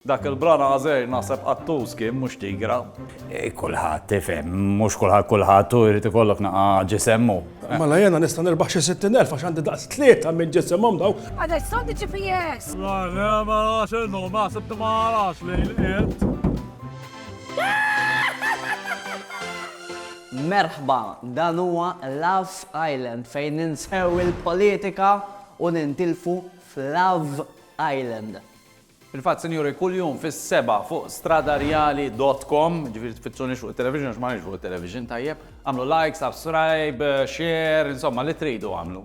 Dak il-bran Għażejr naħseb qattus kien mhux tigra. Kulħadd, tifhem, mhux kulħadd kulħadd u jrid ikollok naqa' ġisem u. Mela jiena nista' nirbaħ xi sittin elf għax għandi daqs tlieta minn ġisimhom dawn. Għadha json di GPS! Lajle, mela x'inhu, ma sibt ma arax li lqiet. Merħba, dan huwa Love Island fejn ninsew il-politika u nintilfu f'Love Island. Fil-fatt, sinjuri, kuljum fis-sebgħa fuq stradarjali dot com, jiġifieri tfittxunix fuq it-television għax m'aħniex fuq it-television, tajjeb, agħmlu like, subscribe, share, insomma li tridu agħmlu.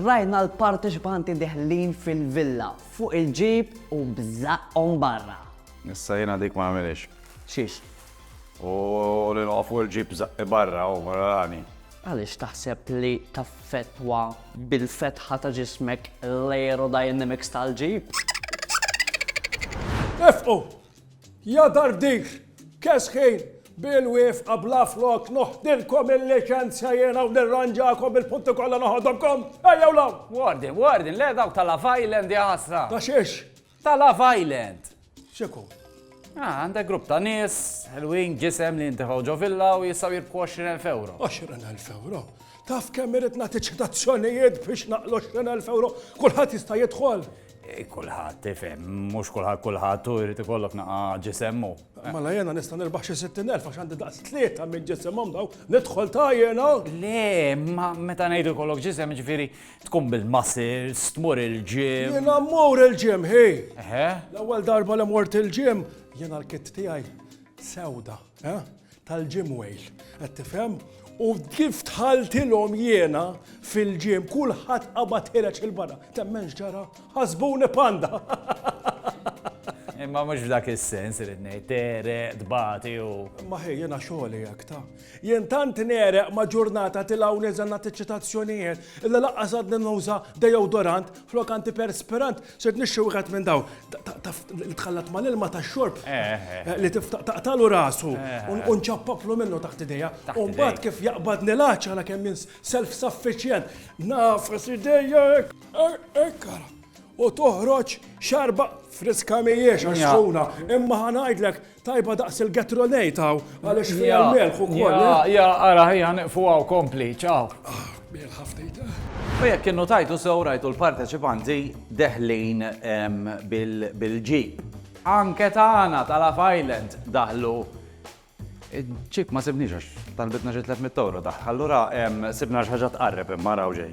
Rajna l-parteċipanti deħlin fil-villa, fuq il-ġib u b'żaqqhom barra. Issa jiena dik ma nagħmilhiex. Xiex? U li noqgħod fuq il-ġib b'żaqqi barra, hu, rani. Għaliex taħseb li taffettwa bil-fetħa ta' ġismek l-aerodynamics tal-ġip? Ifqu! Ja darbdix! Kesħin! Bil wifqa bla flok noħdilkom il-liċenzja jiena u nirranġakom il-punti kollha noħodhomkom! Ejjew l-hawn! Warden, Warden, le dawk tal-Love Island ja ħasra! Ta' xiex? Ta' Love Island. X'ikun? Ah, għandek grupp ta' nies, ħelwin, ġisem li jintefgħu ġo villa u jistgħu jirbħu 20,000 ewro. 20,000 ewro? Taf kemm irid nagħti ċitazzjonijiet biex naqlu 20,000 ewro? Kulħadd jista' jidħol? Eh, kulħadd, tifhem, mhux kulħadd kulħadd u jrid ikollok naqa ġisemmu. Mela jena nista' nirbaħ xi 60,000 għax għandi daqs tlieta minn ġisimhom daw, nidħol ta' jena. Le, ma meta ngħidu kollok ġisem ġifieri Tkun bil-muscles, tmur il-gym. Jiena mmur il-gym, hi! Eħe. L-ewwel darba li mort il-gym, jiena l-kit tiegħi sewda, eh? Tal-gym wejl, qed tifhem? U kif tħaltilhom jiena fil-gym, kulħadd qabad ħireġ il-barra. Temmenx ġara, ħasbuni panda. Imma mhux f'dak is-sens irid ngħid, tere, tbati u. Ma ħej jiena xogħli hekk ta'. Jien tant negħreq ma' ġurnata tilgħa u niżel nagħti ċċitazzjonijiet illi lanqas għadni nuża dejowdorant flok antiperspirant, sirt nixtri wieħed minn dawn, taf, li tħallat mal-ilma tax-xorb, li taqtagħlu rasu u nċappaplu minnu taħt idejja, u mbagħad kif jaqbadni l-għatx għala kemm jien self-sufficient, ngħafas idejja hekk, hekk ara, u toħroġ xarba friska m'hijiex għax sħuna, imma ħa ngħidlek, Tajba daqs il-gatrolejt hawn għaliex fiha l-melħ ukoll. Ja, eh? ja, ara ħija niqfu hawn kompli, ċaw. Ah, melħa ftit. Eh? U jekk kienu tajtu sew rajtu l-parteċipanti deħlin bil-ġib. Anke tagħna tal-Af Island daħlu ċip ma sibniex għax talbitna xi 300 euro daħ. Allura sibna xi ħaġa tqarreb imma raw ġej.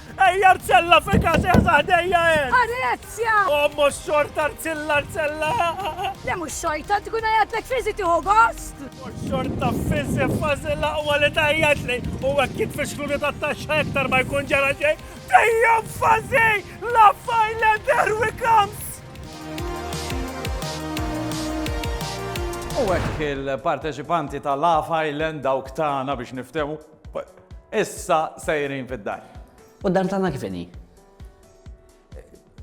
Ejja Arzella fi każ eħsaħ dejja hemm. Arezja! Ommu xorta Arzilla Arzella. Le mhux xorta tkun għajjatlek fiżi tieħu gost. Xorta fiżi fażi l-aqwa li tajjat li u hekk kif fixkluni tat-taxxa iktar ma jkun ġara xejn. Dejja fażi la fajla derwi kams. U hekk il-parteċipanti ta' Love Island dawk tagħna biex niftehmu Issa sejrin fid-dar. U d-dar tagħna kif inhi?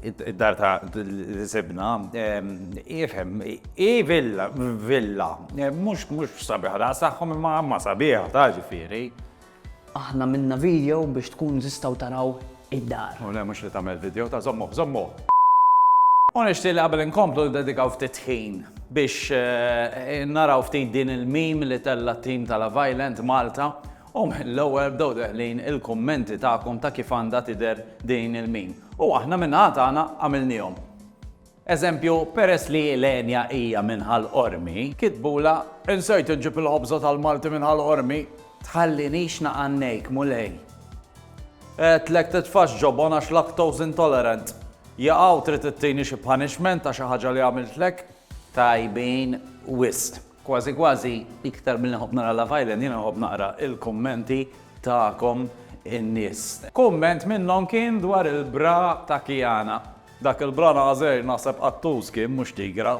Id-dar ta' sibna, ifhem, i villa, villa, mhux mhux sabiħ raqsaħħom imma ma sabiħ ta' ġifieri. Aħna minna video biex tkun tistgħu taraw id-dar. Oh le mhux li tagħmel video ta' żommuh żommuh! U nixtieq li qabel inkomplu ndedikaw ftit ħin biex naraw ftit din il-meme li tella' t-tim ta' Love Island Malta u mill-ewwel bdew deħlin il-kummenti tagħkom ta' kif għandha tidher din il-meme u aħna min-naħa tagħna għamilniehom. Eżempju, peress li l-għenja hija minn Ħal Qormi, kitbulha, Insejt inġib il-ħobża tal-Malti minn Ħal Qormi. Tħallinix naqannejk, Mulej. Għedtlek titfax ġobon għax lactose intolerant. Jaqaw trid ittini xi punishment ta' xi ħaġa li għamiltlek? Tajbin wisq. Kważi kważi, iktar milli nħobb nara Love Island, jiena nħobb naqra l-kummenti tagħkom in-nies. Kumment minnhom kien dwar il-bra ta' Kiana. Dak il-branażer naħseb qattus kien mhux tigra.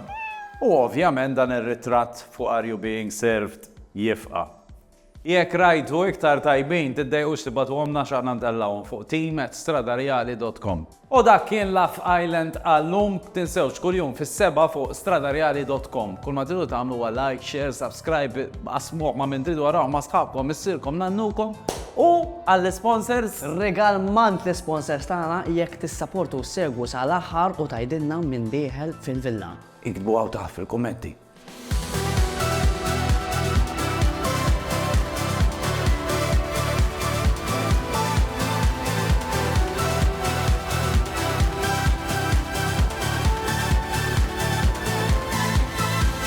U ovvjament dan ir-ritratt fuq Are You Being Served jifqa'. Jekk rajtu iktar tajbin tiddejqux tibgħatuhomlna għax aħna ntellgħuhom fuq team at stradarjali dot com. U dak kien Laugh Island għallum. Tinsewx kuljum fis-sebgħa fuq stradarjali dot com. Kull ma tridu tagħmlu huwa like, share, subscribe. B'qasmuh ma' min tridu araw ma' sħabkom, missierkom, nannukom u għall-isponsors. Regal mant l-isponsors tagħna jekk tissaportu u ssegwu sa l-aħħar u tgħidilna min dieħel fil-villa. Iktbu hawn taħt fil-kummenti.